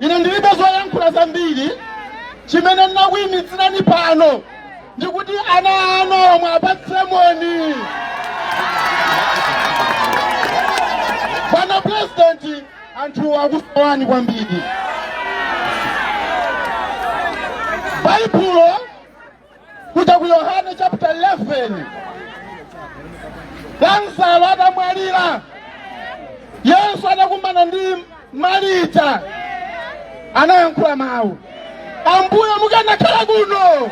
ine ndilibe zoyankhula zambiri chimene ndinakuimitsirani pano ndikuti ana anuwa muwapatse moni bwana purezidenti anthu akusowani kwambiri baibulo kuja ku yohane chapter 11 lazaro atamwalira yesu anakumana ndi marita anayankhula mawu ambuye mukanakhala kuno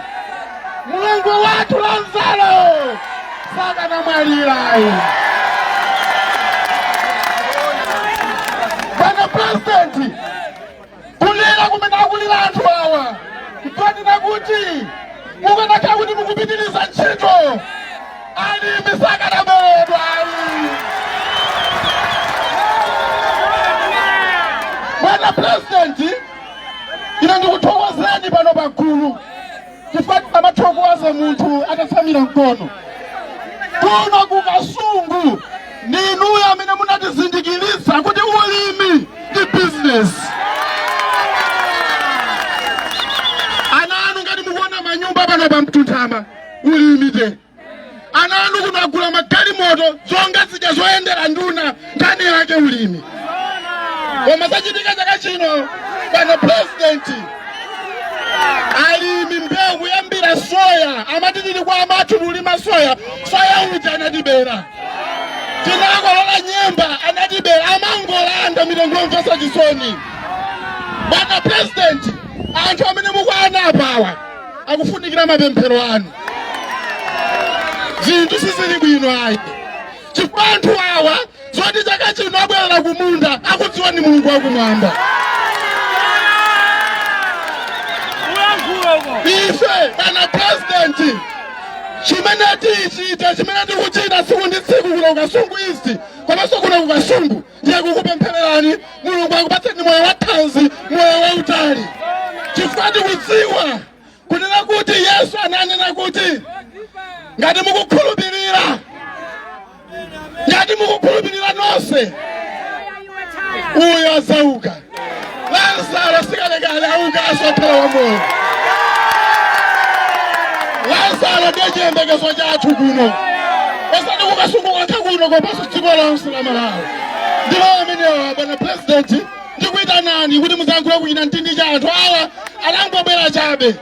mulongo wathu lazaro sakanamwalira ayi bwana presidenti kulira kumene akulira anthu awa nkonena kuti mukanakhala kuti mukupitiriza ntchito alimi sakadaberedwa ayi bwana purezidenti ine ndikuthokozeni pano pagulu chifukwa amathokoza munthu atatsamira mkono kuno ku kasungu ndi inuyo amene munatizindikiritsa kuti ulimi ndi bizinesi ana anu ngati mukuona manyumba pano pa mtunthama ulimi te ana anu kuno agula magalimoto zonga zija zoyendera nduna nkhani yake ulimi koma zachitika chaka chino bwana purezidenti alimi mbewu kuyambira soya amati tili kwa amathu tulima soya soya uja anatibera tinakolola nyemba anatibera amangolanda mitengo yomvetsa chisoni bwana purezidenti anthu amene mukuwaona apawa akufunikira mapemphero anu zinthu sizili bwino ayi chifukwa anthu awa zoti chaka chino abwerera kumunda akudziwa ni mulungu wakumwamba ife bwana president chimene tichita chimene tikuchita tsiku ndi tsiku kuno kukasungu east komanso kuno kukasungu ndiye kukupemphererani mulungu akupatseni moyo wathanzi moyo wautali chifukwa tikudziwa kunena kuti yesu ananena kuti ngati mukukhulupirira ngati mukukhulupirira nonse uyo adzauka Lazaro sikalekale auka azakhala wamoyo. Lazaro ndiye chiyembekezo chathu kuno. Osati kukasungu kokha kuno komanso dziko lonse la Malawi. Ndi mawu amenewa bwana president ndikuitanani kuti muzayankhule kuchinamtindi cha anthu awa anangobwera chabe.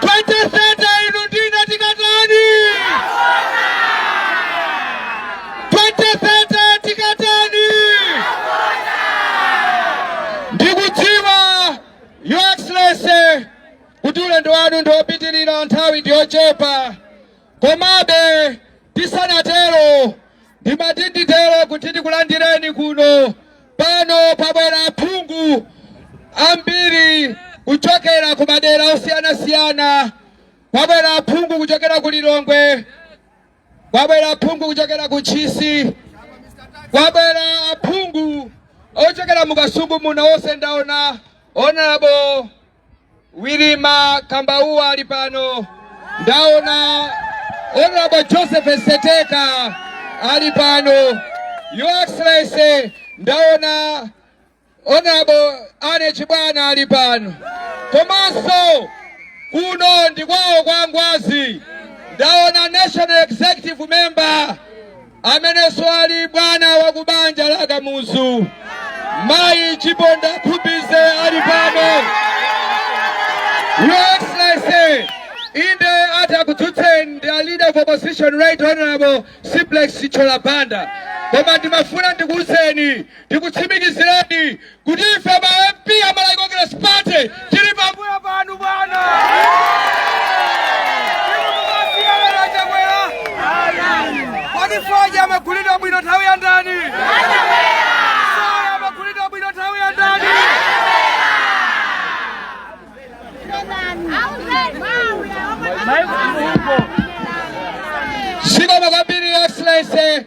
2030 inu ndine tikatani? 2030 tikatani? Ndikudziwa Your Excellency kuti ulendo wanu ndi wopitirira nthawi ndi yochepa, komabe tisanatero ndimati nditero kuti tikulandireni kuno Pano pabwera aphungu ambiri kuchokera ku madera osiyanasiyana. Kwabwera aphungu kuchokera ku Lilongwe, kwabwera aphungu kuchokera ku Ntchisi, kwabwera aphungu ochokera mu Kasungu muno onse ndaona honorable Wirima Kambauwa ali pano, ndaona Honorable Joseph Seteka ali pano, Your Excellency, ndaona Honorable Anne Chibwana ali pano, komanso kuno ndi kwawo kwa Ngwazi, ndaona National Executive Member amenenso ali bwana wa kubanja la Kamuzu mayi Chiponda Khumbize ali pano. Your Excellency, inde atakudzutseni ndi a leader of opposition right honorable Simplex Chithyola Banda koma ndimafuna ndikuuzeni ndikutsimikizireni kuti ife ma MP a Malawi Congress Party tili pambuyo panu bwana. Inu mumasiyana na Chakwera. Kodi fodya amagulidwa bwino nthawi ya ndani? Fodya amagulidwa bwino nthawi ya ndani? Zikomo kwambiri Excellency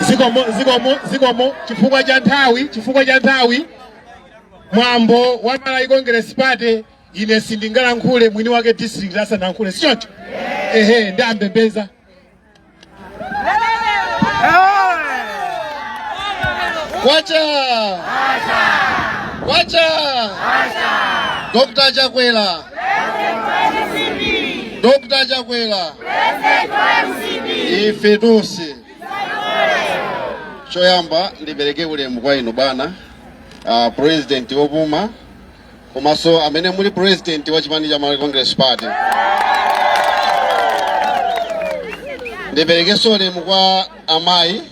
zikomo zikomo zikomo chifukwa cha nthawi chifukwa cha nthawi mwambo wa malawi congress party Ine sindingalankhule mwini wake district asanalankhule, si choncho? Ehe, ndi ambembeza kwacha kwacha Dr. Chakwera Dr. Chakwera ife tonse choyamba ndipereke ulemu kwa inu bwana uh, president wopuma komanso amene muli president wa chipani cha Malawi Congress Party ndiperekenso ulemu kwa amayi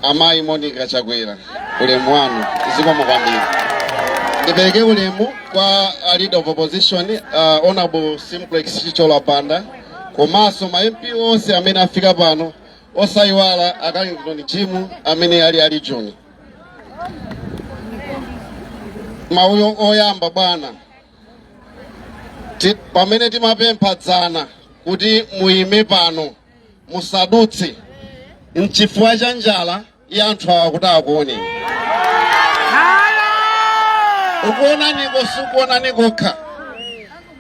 amayi Monica Chakwera ulemu wanu zikomo kwambiri ndipereke ulemu kwa uh, leader of opposition uh, honorable Simplex Chithyola Banda komanso ma MP onse amene afika pano osayiwala a Carlington Jimu amene ali ali John mawu oyamba bwana Ti- pamene timapempha dzana kuti muyime pano musadutse mchifukwa cha njala ya anthu awa kuti akuone ukuonaniko sikuonani kokha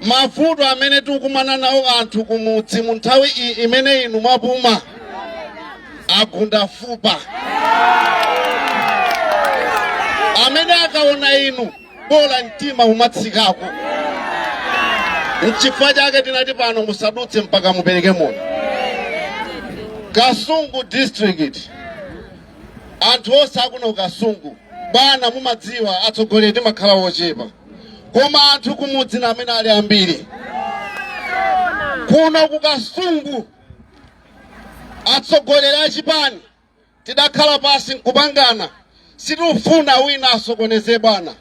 mavuto amene tikukumana nawo anthu kumudzi mu nthawi imene inu mwapuma agunda fupa amene akaona inu bola mtima umatsikako nchifukwa chake tinati pano musadutse mpaka mupereke moni kasungu district anthu onse akuno ku Kasungu bwana mumadziwa atsogoleri timakhala wochepa koma anthu kumudzi ndi amene ali ambiri kuno kukasungu atsogoleri a chipani tidakhala pansi nkupangana sitifuna wina asokoneze bwana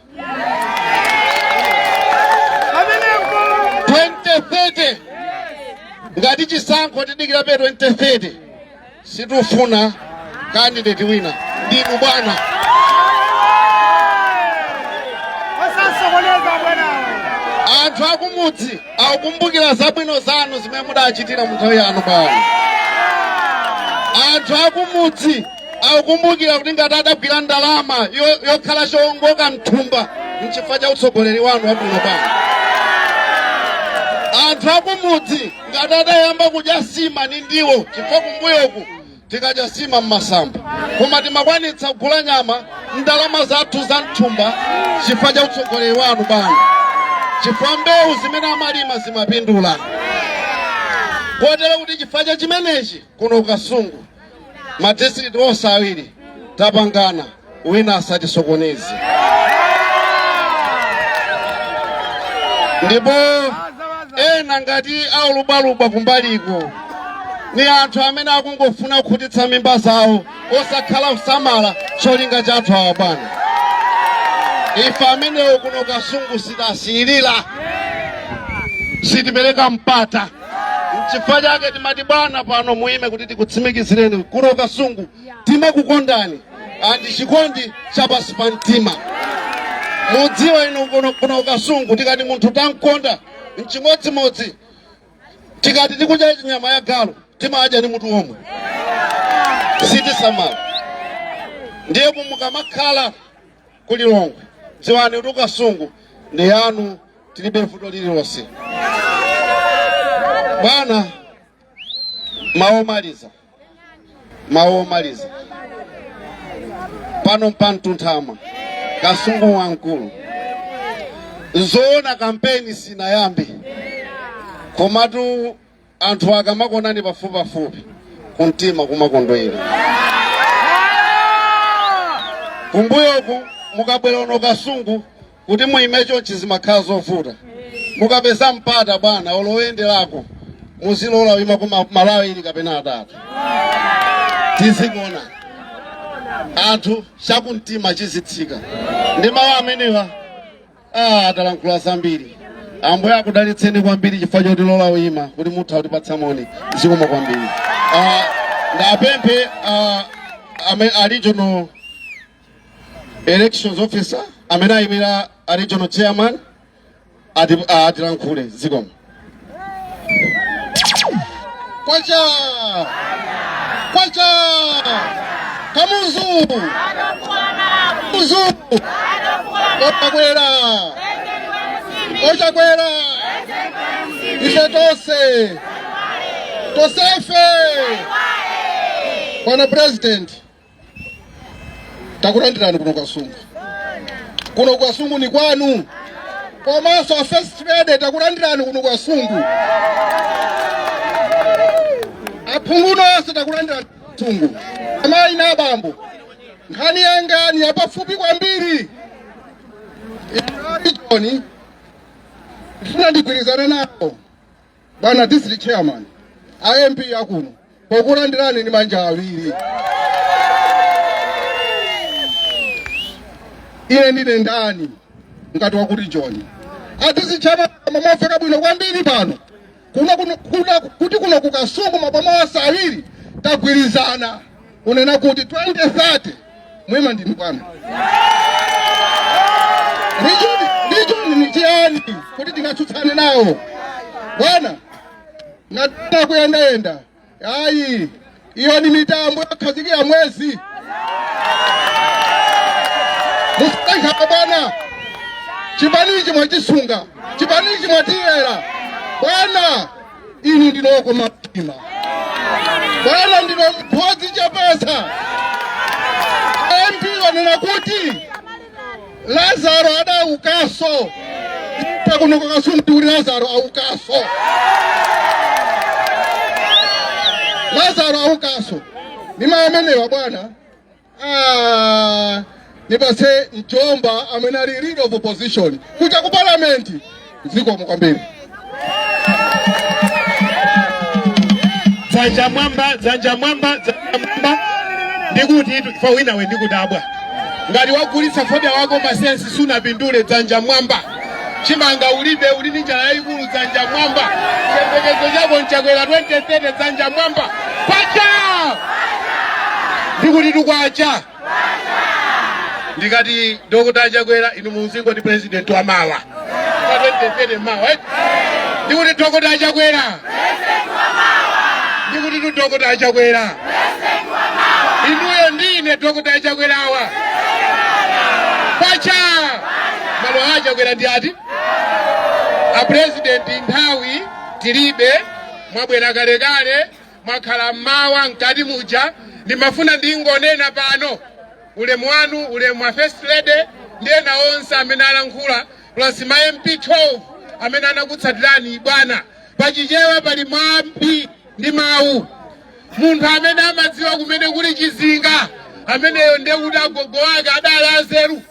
2030 ngati chisankho tidikirabe 2030 Sitifuna kandideti wina ndinu bwana. Anthu akumudzi akukumbukira zabwino zanu zimene mudachitira mu nthawi yanu bwana. Anthu akumudzi akukumbukira kuti ngati adagwira ndalama yo- yokhala chowongoka mthumba mchifukwa cha utsogoleri wanu wabwino bwana. Anthu akumudzi ngati adayamba kudya sima ni ndiwo chifukwa kumbuyoku tinkadya sima ni masamba koma timakwanitsa kugula nyama ndalama zathu za mthumba chifukwa cha utsogoleri wanu bwana chifukwa mbewu zimene amalima zimapindula kotero kuti chifukwa cha chimenechi kuno kukasungu madistrict onse awiri tapangana wina asatisokoneze ndipo ena ngati aulubaluba kumbaliko ni anthu amene akungofuna kukhutitsa mimba zawo osakhala kusamala cholinga cha anthu awa bwana ife amenewo kuno kasungu sitasiyirira sitipereka mpata Nchifukwa chake timati bwana pano muime kuti tikutsimikizireni kuno ku Kasungu timakukondani andi chikondi cha pansi pa mtima. Mudziwe inu kuno ku Kasungu tikati munthu tamkonda nchimodzimodzi tikati tikudya nyama ya galu timadya ni mutu omwe sitisamala. Ndiye mukamakhala ku Lilongwe dziwani kuti Kasungu ndi yanu tilibe vuto lililonse bwana mawu omaliza mawu omaliza pano mpantunthama kasungu wamkulu zoona kampeni sinayambe komatu anthu akamakuonani pafupipafupi kumtima kumakondwera kumbuyoku mukabwera kuno kasungu kuti muime chonchi zimakhala zovuta mukapeza mpata bwana olo oyenderako muzilola kuima kuma malo awiri kapena atatu azikuonani anthu chakumtima chizitsika ndi mawu amenewa Ah, ndalankhula zambiri ambuye akudalitseni kwambiri chifukwa chotilola kuyima kuti muthe kutipatsa moni zikomo kwambiri Ah, ndiwapemphe ah, ame- a regional elections officer amene ayimira a regional chairman ati- ah, atilankhule zikomo Kwacha! Kwacha! Kamuzu! Kamuzu! Ochakwera! Ochakwera! Ife tonse! Tosefe! Bwana President, takulandirani kuno kwasungu kuno kwasungu ni kwanu komanso a first lady takulandirani kuno kwasungu aphunguno onse takulandirani sungu amayi na abambo nkhani yanga ni yapafupi kwambiri itoni ndifuna ndigwirizane nawo bwana district chairman a mp akuno pokulandirani ndi manja awiri ine ndiye ndani ngati wa ku rijoni a district chairman amafika bwino kwambiri pano kuno kuno- kuno- kuti kuno kukasungu maboma onse awiri tagwirizana kunena kuti 2030 mwima ndinu bwana ndiye rijoni ni chiyani kuti tingatsutsane nawo bwana ngatita kuyendayenda ayi iyo ni mitambo yokhazikira mwezi musankhaa bwana chipanichi mwatisunga chipanichi mwatiyera bwana inu ndinu okoma mtima bwana ndinu mphunzitsi chapesa mp wanena kuti lazaro adaukaso pakuno ku kasungu kuti lazaro aukaso lazaro aukaso ni mawu amenewa bwana Ah, nipase mjomba amene ali leader of opposition kuja ku parliament zikomo kwambiri dzanja mwamba dzanja mwamba dzanja mwamba ndikutitu chifukwa winawe ndikudabwa ngati wagulitsa fodya wako masensi sunapindule dzanja mwamba chimanga ulibe uli ndi njala yayikulu dzanja mwamba chiyembekezo chako nchakwera 2030 dzanja mwamba kwacha ndikutitu kwacha ndikati dokota chakwera inu muzingoti president wa mawa 2030 mawa eh? ndikuti dokota chakwera ndikutitu dokota achakwera inuyo ndi ine dokota achakwerawa paja malo a achakwera ndi ati apurezidenti nthawi tilibe mwabwera kalekale mwakhala mmawa mkati muja ndimafuna ndingonena pano ulemu wanu ulemu wa first lady ndi ena onse amene alankhula plus ma MP 12 amene anakutsatirani bwana. Pachichewa pali mwambi ndi mawu, munthu amene amadziwa kumene kuli chizinga ameneyo ndiye kuti agogo wake adali anzeru.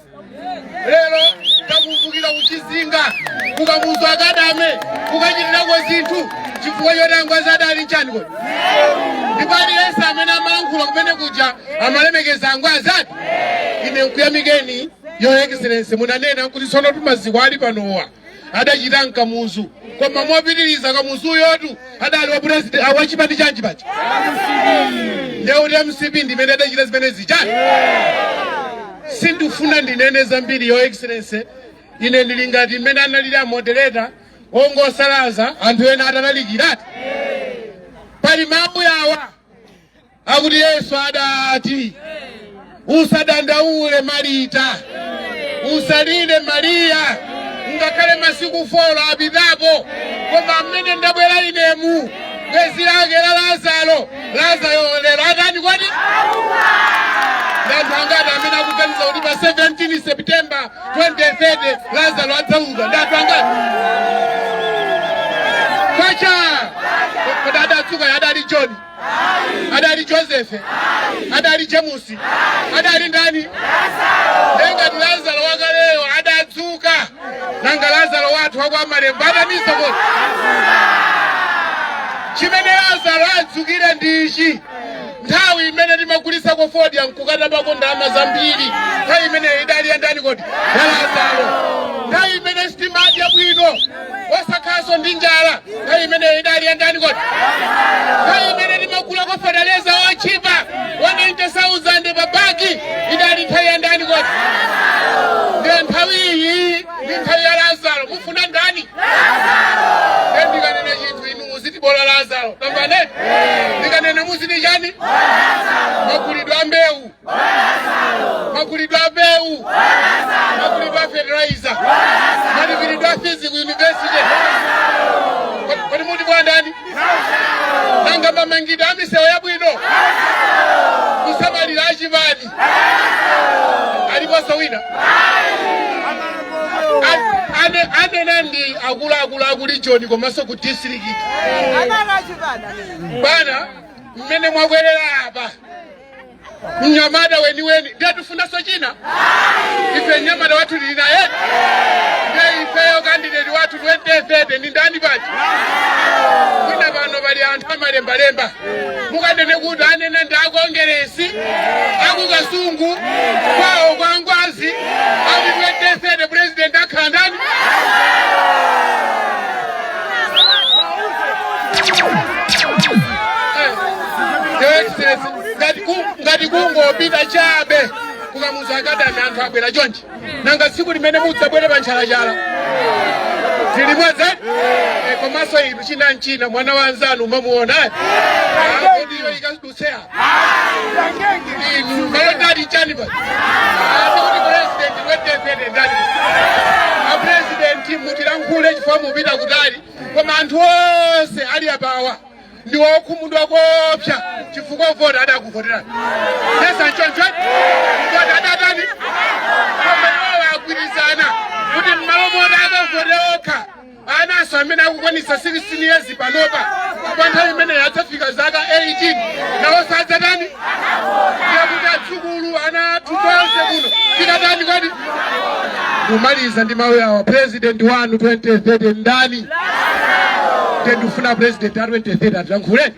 Lero takumbukira kuchizinga ku Kamuzu Academy kukachitirako zinthu chifukwa choti angwazi adali chani kodi ndipo aliyense amene amalankhula kumene kuja amalemekeza angwazi ati ine nkuyamikeni Your Excellency, munanena kuti tsonotu maziko ali panowa adachita nkamuzu koma mopitiriza kamuzuyotu adali wa president ah, wachipani chanji paja ndeuti mcp ndimene adachita zimenezi chani sindifuna ndinene zambiri your excellency ine ndili ngati mmene analili a moderator ongosalaza anthu ena atalalikirati pali mawu yawa akuti yesu adati usadandaule marita usalire mariya ngakhale masiku folo apitapo koma mmene ndabwera inemu bwenzi lake la lazaro lazaro lero atani kodi ndanthu angati amene akuganiza kuti pa 17 september 2030 lazaro adzauka ndanthu angati kwacha kodi adatsuka adali joni adali josefe adali jemusi adali ndani nengati lazaro wakaleyo adadzuka nanga lazaro wathu wakwa malembo adatani kodi chimene lazaro adzukire ndi ichi nthawi imene timagulitsa ko fodya nkukata pako ndalama zambiri nthawi imeneyo idali yandani kodi ya lazaro nthawi imene sitimadya bwino osakhalanso ndi njala nthawi imeneyo idali yandani kodi nthawi imene timagulako fataleza otchipa 19000 pa bagi idali nthawi yandani kodi ndiye nthawi iyi ndi nthawi ya lazaro mufuna ndani ndiye ndikanena chinthu inu muziti bola lazaro tamvanatu ndikanena muziti chani magulidwe a mbewu magulidwe a mbewu magulidwe a fertilizer malipiridwe a fizi ku yunivesite Kodi- kodi muti bola ndani nanga mamangidwe a misewu yabwino kusangalala achipani aliponso wina A- ane- anena ndi akuluakulu a ku region komanso ku district bwana mmene mwabwerera apa mnyamata weniweni ndiye tifunanso china ife mnyamata wathu tili naye ndiye ifeyo kandideti wathu 2030 ndi ndani paja mwina pano pali anthu amalembalemba mukanene kuti anena ndi akongeresi akukasungu kwawo kwa ngwazi ati 2030 president akhala ndani ngati kungopita chabe kukamuza akadami anthu abwera chonchi nanga tsiku limene mudzabwere pa ntchalatchala zilimwedze eh, komanso inu china nchina mwana wa mnzanu umamuona ndiyo eh? ikadutseha inu mayendali chani pa akuti president wefedefede ndani apresidenti mutilankhule chifukwa mupita kutali koma anthu onse ali apawa ndi wokhumudwa koopsa chifukwa voti adakuvoterani sizi nchonchoni voti adatani koma iwowo agwirizana kuti mmalo moti akavote okha ananso amene akukwanisa 16 years panopa kwa nthawi imene adzafika zaka 18 nawonso adzatani ndiye kuti adzukulu ana athu tonse kuno tikatani kodi kumaliza ndi mawiri awa president wanu 2030 ndani ndikufuna president a 2030 atilankhule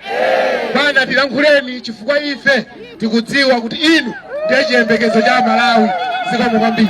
bwana tilankhuleni chifukwa ife tikudziwa kuti inu ndiye chiyembekezo cha malawi zikomo kwambiri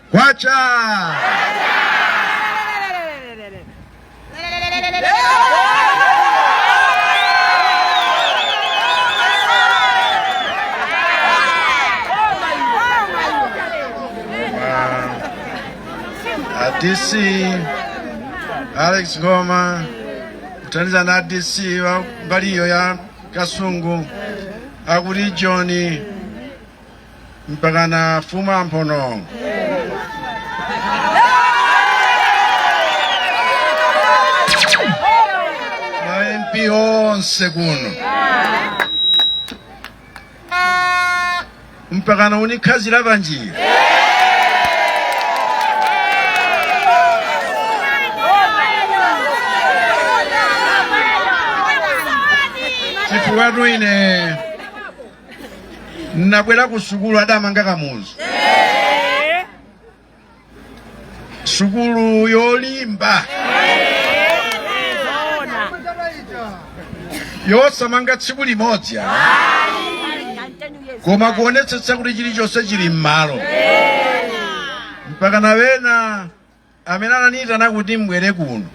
Kwacha! Uh, DC Alex Goma kuthandiza na DC wa mbali iyo ya Kasungu akuli John mpakana fuma mphono ma mp onse kuno mpakana unikhazira panjira chifukwa tu ine Nabwera ku sukulu adamanga kamuzu. Sukulu yolimba. Yosamanga tsiku limodzi. Koma kuonetsetsa kuti chilichonse chili m'malo. Mpaka na wena amene ananiyitana kuti mbwere kuno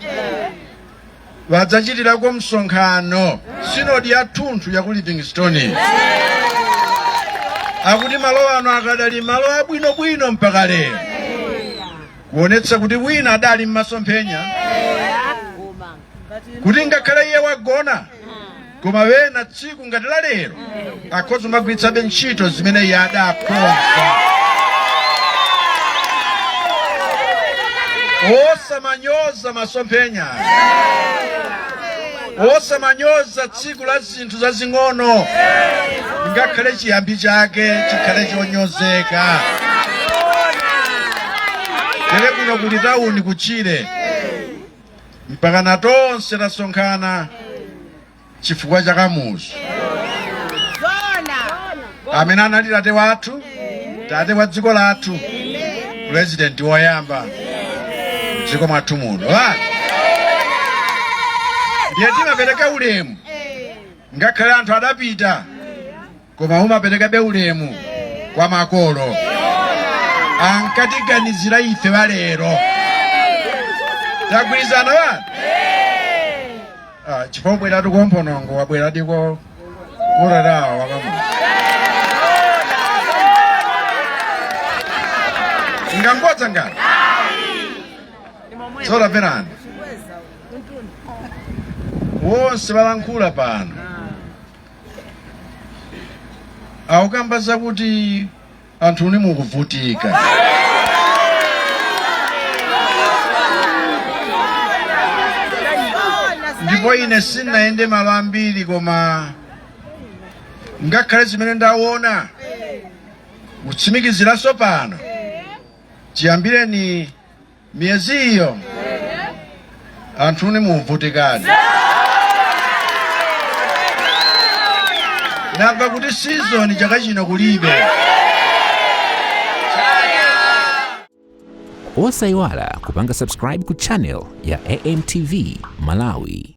wadzachitirako msonkhano sinodi yathunthu ya ku livingstone akuti malo ano akadali malo abwinobwino mpaka lero kuonetsa kuti wina adali m'masomphenya kuti ngakhale iye wagona koma wena tsiku ngati la lero akhoza kumagwiritsabe ntchito zimene iye adakonza osamanyoza masomphenya osamanyoza tsiku la zinthu zazing'ono ngakhale chiyambi chake chikhale chonyozeka tere kuno kuli tawuni kuchire mpakana tonse tasonkhana chifukwa cha kamuzu amene anali tate wathu tate wa dziko lathu pulezidenti woyamba dziko mwathu muno ndiye timapereka ulemu ngakhale anthu adapita koma umaperekabe ulemu kwa makolo ankatiganizira ife alero tagwirizana bana Ah, chifukwa kubwera kuno m'Chonona wabwera tiko urarawa wa kamuzu ngangodza ngati zora verani wonse alankhula pano akukamba zakuti anthu inu mukuvutika ndipo ine sinayende malo ambiri koma ngakhale zimene ndaona kutsimikiziranso pano chiyambireni miyezi iyo anthu inu mukuvutika ndamva kuti sizoni chaka chino kulibe osayiwala kupanga subscribe ku channel ya amtv malawi